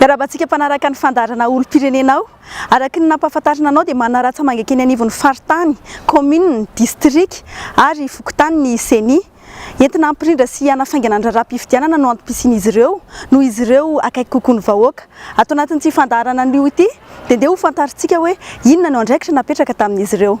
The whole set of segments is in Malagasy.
Miarahaba antsika mpanaraka ny fandaharana olom-pirenenao. Araka ny nampahafantarina anao dia manana ratsamangaka eny anivon'ny faritany, kaominina, distrika ary fokontany ny Ceni. Entina hampirindra sy hanafaingana ny raharaham-pifidianana no antom-pisian'izy ireo, noho izy ireo akaiky kokoa ny vahoaka. Ato anatin'ity fandaharana anio ity dia ndeha hofantarintsika hoe inona no andraikitra napetraka tamin'izy ireo.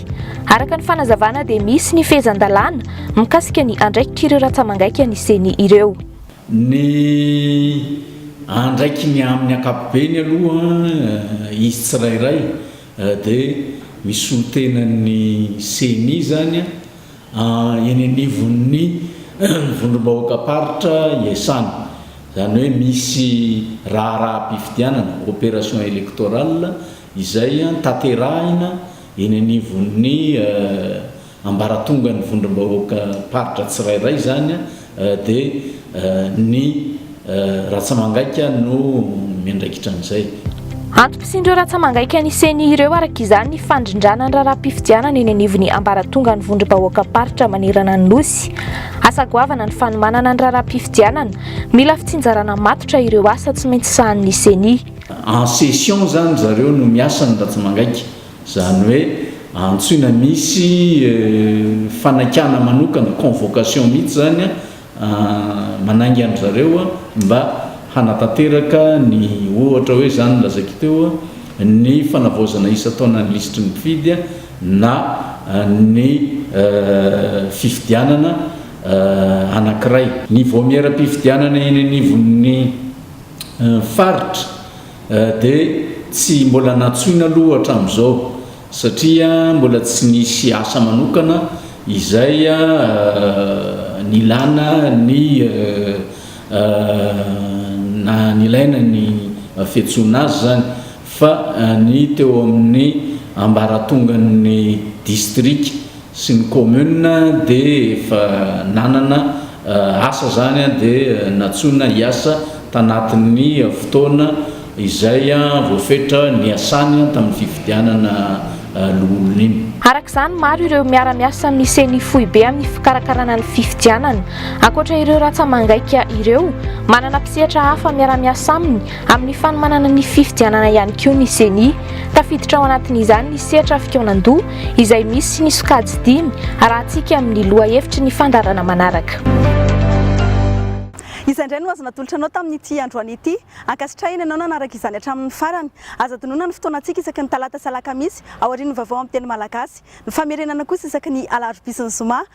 Araka ny fanazavana dia misy ny fehezan-dalàna mikasika ny andraikik'ireo ratsamangaika ny ceni ireo. Ny andraikiny amin'ny ankapobeny aloha izy tsirairay dia misolo tena ny ceni izany eny anivon'ny vondrom-bahoakam-paritra iasany. Izany hoe misy raharaham-pifidianana, opération électorale, izay tanterahina eny anivon'ny ambaratongan'ny vondrom-bahoakam-paritra tsirairay izany dia ny ratsamangaika no miandraikitra an'izay. Antom-pisian'ireo ratsamangaika ny ceni ireo araka izany ny fandrindrana ny raharaham-pifidianana eny anivon'ny ambaratongan'ny vondrom-bahoakam-paritra manerana ny Nosy. Asa goavana ny fanomanana ny raharaham-pifidianana, mila fitsinjarana matotra ireo asa tsy maintsy sahanin'ny ceni. En session izany zareo no miasa ny Ratsimangaika. Izany hoe antsoina misy fanakana manokana, convocation mihitsy izany manainga an-dry zareo mba hanatanteraka ny ohatra hoe izany no lazaiko teo, ny fanavaozana isan-taona ny lisitry ny mpifidy na ny fifidianana anankiray. Ny vaomieram-pifidianana eny anivon'ny. faritra dia tsy mbola nantsoina aloha hatramin'izao satria mbola tsy nisy asa manokana izay nilana ny na nilaina ny fiantsoana azy izany. fa ny teo amin'ny ambaratongan'ny distrika sy ny commune dia efa nanana asa izany dia nantsoina hiasa tanatin'ny fotoana izay voafetra niasany tamin'ny fifidianana loholona iny. Araka izany, maro ireo miara-miasa amin'ny ceni foibe amin'ny fikarakarana ny fifidianana. Ankoatra ireo ratsa-mangaika ireo, manana mpisehatra hafa miara-miasa aminy Amin'ny fanomanana ny fifidianana ihany koa ny Ceni. Tafiditra ao anatin'izany ny sehatra fikaonan-doha izay misy ny sokajy dimy arahantsika amin'ny lohahevitry ny fandrarana manaraka. Izay indray no azo natolotra anao tamin'ity androany ity. Ankasitrahina ianao nanaraka izany hatramin'ny farany. Aza adinoina ny fotoanantsika isaky ny talata sy alakamisy aorian'ny vaovao amin'ny teny malagasy. Ny famerenana kosa isaky ny alarobia sy ny zoma.